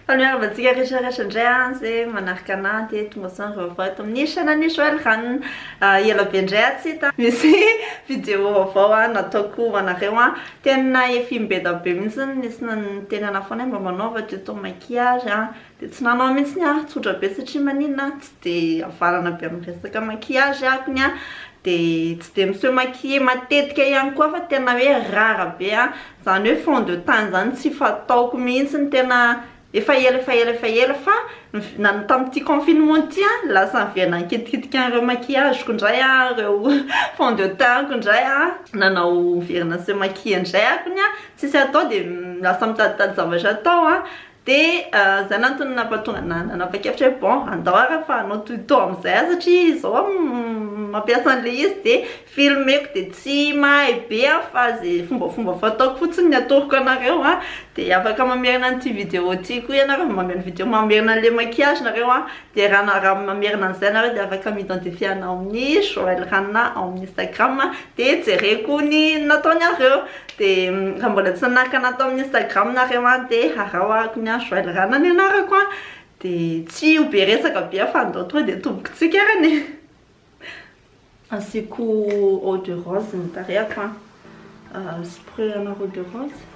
Fa ny miarahaba antsika rehetra rehetra indray an, izay manaraka anah dia tonga sain vaovao eto amin'ny chaîne-n'i Joël Rano ah, ela be indray ah tsy hita an, misy vidéo vaovao an nataoko ho anareo an, tena efi-mbeda be mihitsy, nisy niteny anah foana hoe mba manaova tuto maquillage an, dia tsy nanao mihitsy an, tsotra be satria maninona an, tsy dia havalana be amin'ny resaka maquillage ah kony an, dia tsy dia miseho maquiller matetika ihany koa fa tena hoe rare be an. Zany hoe fond de teint zany tsy fataoko mihitsy ny tena efa ela efa ela efa ela fa nany tamin'ity confinement ity an lasa niverina nikitikitika an'ireo maquillage-ko indray aho ireo fond de teint-ko indray an nanao niverina se maquille indray aho koa ny an tsisy atao dia lasa mitaditady zavatra atao an Dia izay nantony nampatonga anah nanapa-kevitra hoe bon andao ary fa hanao tuto amin'izay aho satria izao aho mampiasa an'ilay izy dia filmeko dia tsy mahay be aho fa izay fombafomba fataoko fotsiny no atoroko anareo an, dia afaka mamerina an'ity vidéo ity koa ianareo, mamerina vidéo, mamerina an'ilay maquillage nareo an. Dia raha na raha mamerina an'izay ianareo dia afaka mi-identifier anao amin'ny Joël Ranona ao amin'ny Instagram dia jereko ny nataon'iareo. Dia raha mbola tsy nanaraka anah tao amin'ny Instagram nareo an dia harao arako ny an Joël Ranona ny anarako an. Dia tsy ho be resaka be aho fa andao tonga dia tombontsika ary anie. Asiako eau de rose ny tarehako an. Spray ana eau de rose.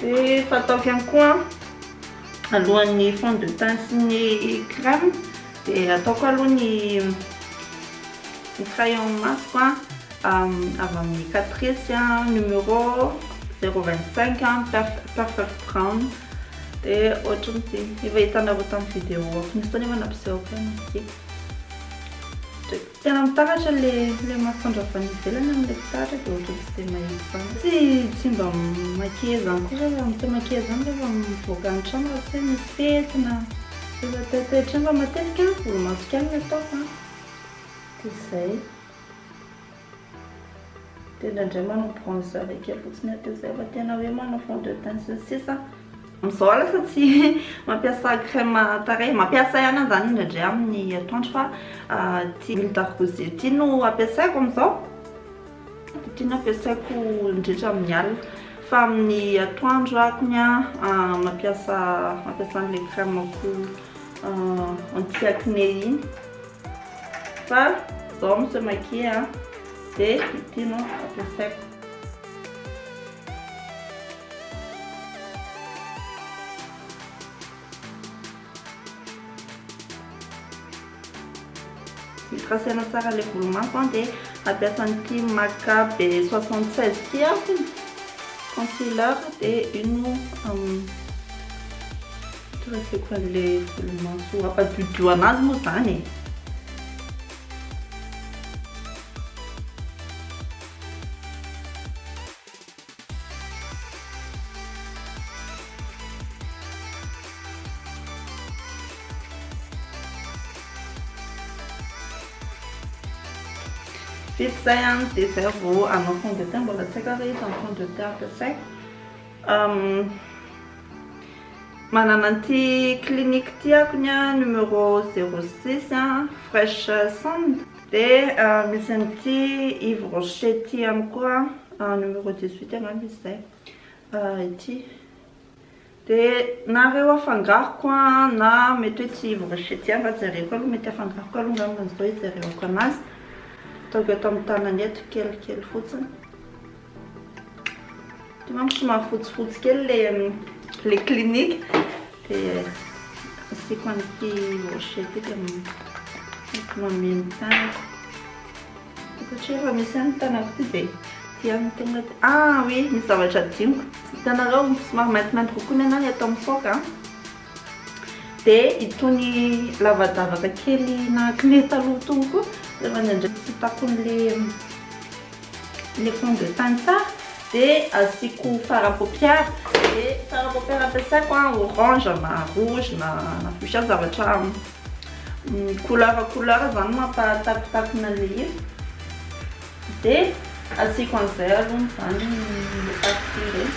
Dia fataoko ihany koa alohan'ny fond de teint sy ny crème dia ataoko aloha ny crayon masoko a avy amin'ny catrice numéro 025 perfect brown dia ohatran'ity efa hitanareo tamin'ny vidéo foana teo nefa nampisehoako ihany izy ity. Tena mitahotra ilay ilay masoandro avy any ivelany aho ilay mpitaratra dia ohatran'ny tsy dia mahita izany. Tsy tsy mba maquiller izany koa zah raha mity maquiller izany rehefa mivoaka ny trano raha tsy hoe misy fety na rehefa teo an-toetrano fa matetika volomaso ihany no ataoko an. Dia izay. Dia indraindray manao bronzer kely fotsiny aho dia izay fa tena hoe manao fond de teint sy ny sisa. Amin'izao lasa tsy mampiasa crème tarehy, mampiasa ihany aho izany indraindray amin'ny atoandro fa ity huile d'argousier ity no ampiasaiko amin'izao, ity no ampiasaiko indrindra amin'ny alina fa amin'ny atoandro ako ny ahy mampiasa mampiasa an'ilay crème ko anti acné iny fa izao mi se maquiller dia ity no ampiasaiko. Misy raha saina tsara ilay volo maso an dia hampiasa an'ity MACA B 76 ity aho, concealer dia iny no hitraseko an'ilay volo maso hampadiodio an'azy moa izany e. Vita izay ihany dia izay vao hanao fond de teint mbola tsy haiko ary izany fond de teint ampiasaiko. Manana an'ity clinique ity ako ny numéro 06 fresh sand. Dia misy an'ity Yves Rocher ity ihany koa, numéro 18 angamba izy izay, ity. Dia nareo afangaroko na mety hoe tsy Yves Rocher ity ary jereko aloha, mety afangaroko aloha angamba izao hijereko anazy. Ataoko eto amin'ny tanana eto kelikely fotsiny. Hitanao somary fotsifotsy kely le le clinique dia asiako an'ity rocher ity dia mameno tànana. Satria efa misy ihany ny tànako ity dia ity ihany no tonga dia ah oui misy zavatra adinoko. Hitanareo somary maintimainty kokoa ny anahy eto amin'ny foaka a. Dia itony lavadavaka kely nahak'ilay taloha itony koa rehefa indraindray tsy takon'ilay Le fond de teint tsara de asiako fard à paupière de fard à paupière ampiasaiko a orange na rouge na na fuchsia zavatra couleur couleur zany mampatakotakona le izy de asiako an'izay alony zany le partie reny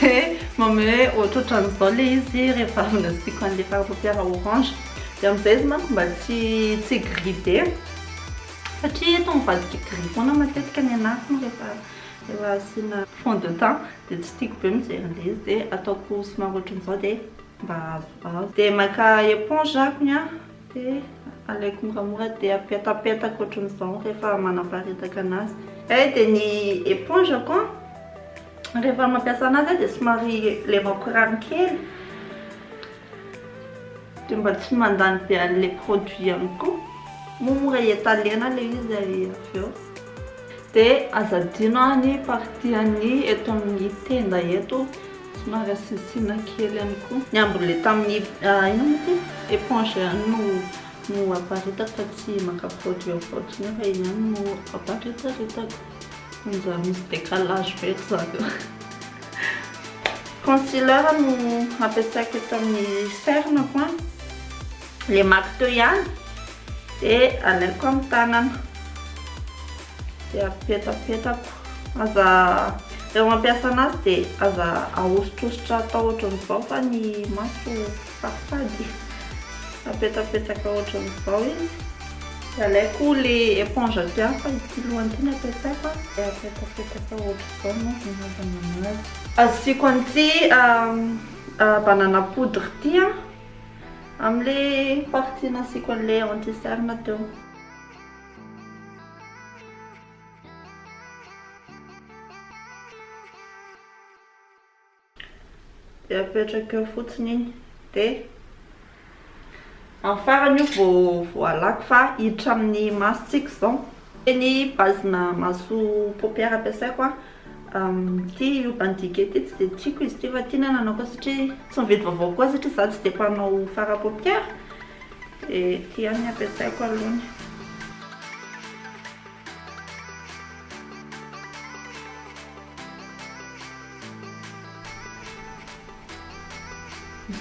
de manome ohatrohatran'izao le izy rehefa avy nasiako an'le fard à paupière orange de am'izay izy manko mba tsy tsy gris be. Satria eto mivadika gris foana matetika ny anatiny rehefa rehefa asiana fond de teint dia tsy tiako be mijery an'ilay izy dia ataoko somary ohatran'izao dia mba azoazo. Dia maka éponge akony an, dia alaiko moramora dia apetapetako ohatran'izao rehefa manaparitaka an'azy. Izay dia ny éponge-ko an, rehefa mampiasa an'azy aho dia somary lemako rano kely. Dia mba tsy mandany be an'ilay produit ihany koa, moa mora iataliana ilay izy avy eo. Dia aza adino ny partie an'ny eto amin'ny tenda eto, somary asiasiana kely ihany koa. Ny ambolehy tamin'ny inona moa ity? Eponge ihany no no aparitakako fa tsy maka produit ao fotsiny eo fa iny ihany no aparitakako. Manjary misy décalage be ry zareo. Concealer no ampiasaiko eto amin'ny cerne-ko an. Le maky teo ihany dia alaiko amin'ny tanana. Dia apetapetako. Aza rehefa mampiasa anazy dia aza ahosotrosotra atao ohatran'izao fa ny maso Safady. Napetsapetsaka ohatran'ny vao izy. Alaiko le éponge aty hafa ity lohany ity nampiasaiko a. Dia apetapetaka ohatr'izao no hanaovana anazy. Asiako an'ity banana poudre ity a, amin'le partie nasiako an'le anti cerne teo. Dia apetraka eo fotsiny iny. Dia amin'ny farany io vao voalako fa hiditra amin'ny masontsika izao. Ny bazina maso paupière ampiasaiko a. Ity urban decay ity tsy dia tiako izy ity fa tiana ny anaovako satria tsy mividy vaovao koa satria izaho tsy dia mpanao fard à paupière. Dia ity ihany no ampiasaiko alohany.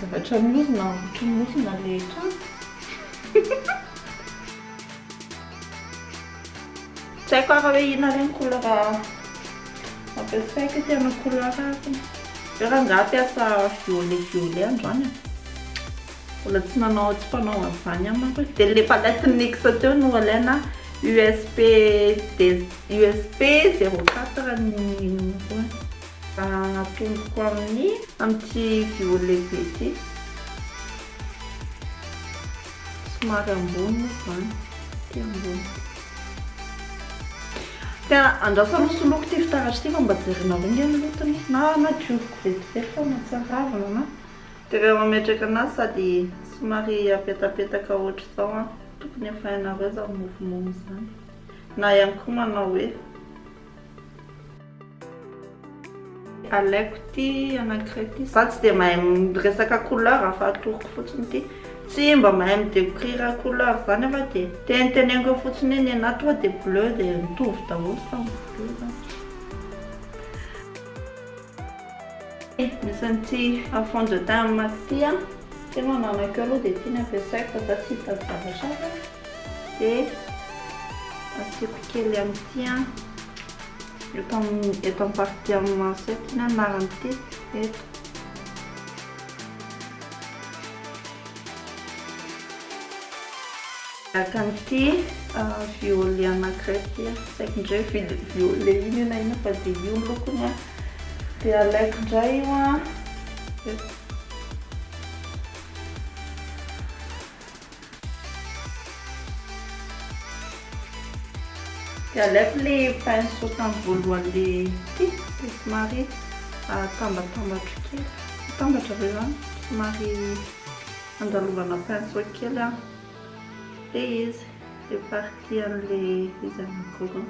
Zavatra miorina ambotry ny orona le trano. Tsy haiko ara hoe inona re ny couleur ampiasaiko ity hanao couleur azy. Ve rangah hampiasa violet violet androany e? Mbola tsy nanao tsy mpanao an'izany aho manko e. Dia ilay palette NYX teo no alaina a, USP des. UFP zéro quatre ny inona koa an. Atomboko amin'ny amin'ity violy lehibe ity. Somary ambony moa izany, ity ambony. Dia andrasana hosoloiko ity fitaratra ity fa mba jerenareo ange ny lotony na na dioviko vetivety fa mahatsiaravina na. Dia rehefa mametraka anazy sady somary apetapetaka ohatr'izao an, tokony efa hainareo izany mofomamy izany. Na ihany koa manao hoe. Alaiko ity anankiray ity. Izaho tsy dia mahay miresaka couleur fa atoroko fotsiny ity. Tsy mba mahay mi-decrire couleur izany aho fa dia teniteneniko eo fotsiny hoe ny anà tonga dia bleu dia mitovy daholo samy bleu izany. Misy an'ity à fond de teint maty ity an, satria manao anak'io aloha dia ity no ampiasaiko fa izaho tsy hitady zavatra hafa. Dia asiako kely amin'ity an. Eto amin'ny eto amin'ny partie amin'ny maso eto ny anaran'ity eto. Araka an'ity violet anankiray ity an. Tsy haiko indray violet ino na inona fa dia io ny lokony an. Dia alaiko indray io an. Dia aleoko le pinceau tamin'ny voalohany le ity dia somary atambatambatro kely. Atambatra ve zany? Somary andalovana pinceau kely an. Dia izy, le partie an'le izy anankiroa.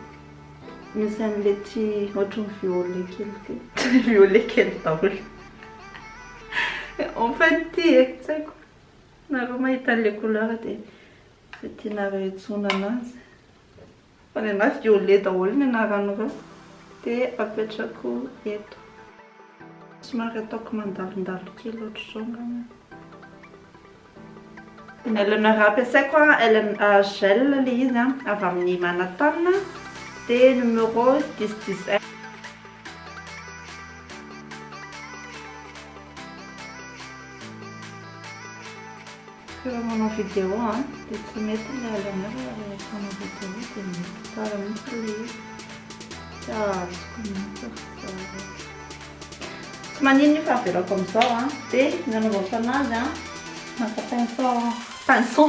Misy an'le tsy ohatran'ny violet kely ity. Violet kely daholo. En fait ity e, tsy haiko. Nareo mahita anle couleur dia izay tianareo iantsoana anazy fa ny anazy dia olé daholo ny anaran'ireo dia apetrako eto. Somary ataoko mandalondalo kely ohatr'izao angamba. Ny lnr ampiasaiko a gel ilay izy a, avy amin'ny Manhattan dia numéro dix dix un. Raha manao vidéo a, dia tsy mety ilay alanao raha rehefa manao vidéo dia mety tsara mihitsy ilay izy. Tsy azoko mihitsy aho tsara. Tsy maninona io fa avelako amin'izao a. Dia ny anaovako anazy a, maka pinceau aho. Pinceau?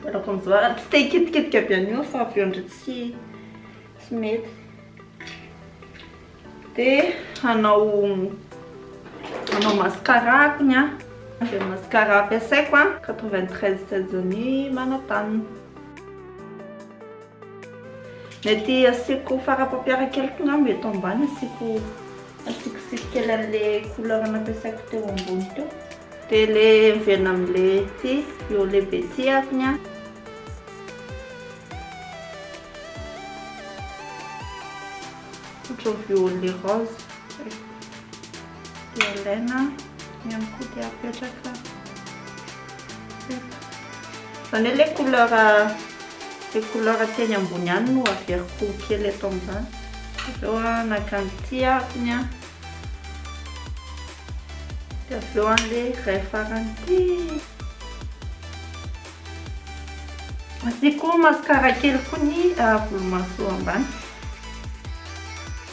Mbola vonjora, tsy te hikitikitika be an'io fa avy eo ndry tsy tsy mety. Dia hanao hanao mascara akony a. Dia mascara ampiasaiko a, 93 Sezani Manatany. Mety asiako fard à paupières kely koa angamba eto ambany asiako asiako sisy kely an'le couleur nampiasaiko teo ambony teo. Dia le miverina amin'le ty eo lehibe ty ary ny ahy. Ohatran'ny violet rose. Dia alaina. Ny an'ny koa dia apetraka eto. Izany hoe le couleur le couleur teny ambony ihany no averiko kely eto amin'izany. Avy eo naka ny tiako ny an. Dia avy eo an'le iray farany ity. Asiako mascara kely koa ny volomaso ambany.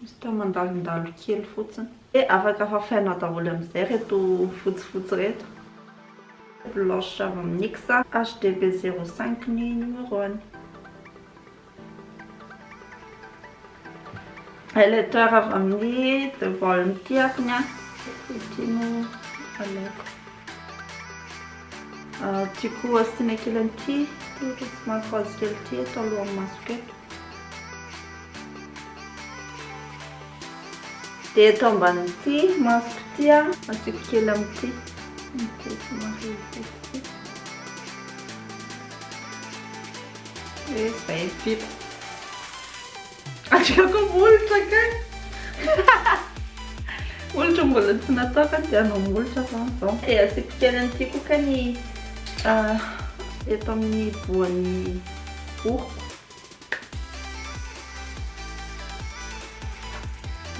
Juste mandalondalo kely fotsiny. Dia afaka fafainao daholo amin'izay ireto fotsifotsy ireto. Blanche avy amin'ny NYX, HDB 05 ny numéro-ny. Highlighter avy amin'ny The Volume ity akony. Ity no alaiko. Tiako asiana kely an'ity, ohatra tsy mahafazo kely ity eto alohan'ny masoko eto. Dia eto ambanin'ity masoko ity a, asiako kely amin'ity. Dia izay vita. Asiako molotra kay. Molotra mbola tsy natao kay dia hanao molotra aho izao. Dia asiako kely amin'ity koa kay ny eto amin'ny voan'ny. Ohh.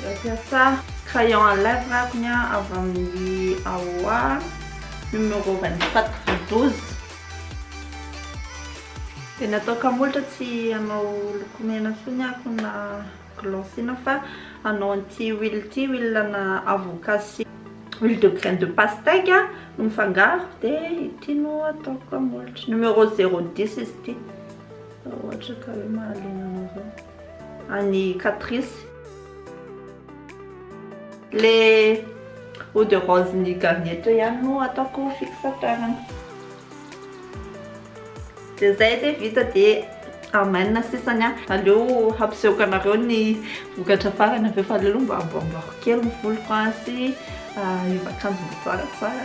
Nampiasa crayon à lèvres aho ny aho avy amin'ny AOA numéro 24 12. Dia nataoko hamolotra tsy hanao lokomena intsony aho koa na. Glosina fa hanao an'ity huile ity, huile ana avocat sy huile de graine de pastèque no mifangaro dia ity no ataoko amin'ny molotro. Numéro zéro dix izy ity. Raha ohatra ka hoe mahaliana anareo. An'i Catrice. Le eau de rose ny Garnier teo ihany no ataoko fixateur-ny. Dia zay edy e vita dia amen sisany a! Aleo hampisehoka anareo ny vokatra farany avy eo fa aleo aloha mba amboamboako kely ny voloko a sy hiova akanjo mba tsaratsara.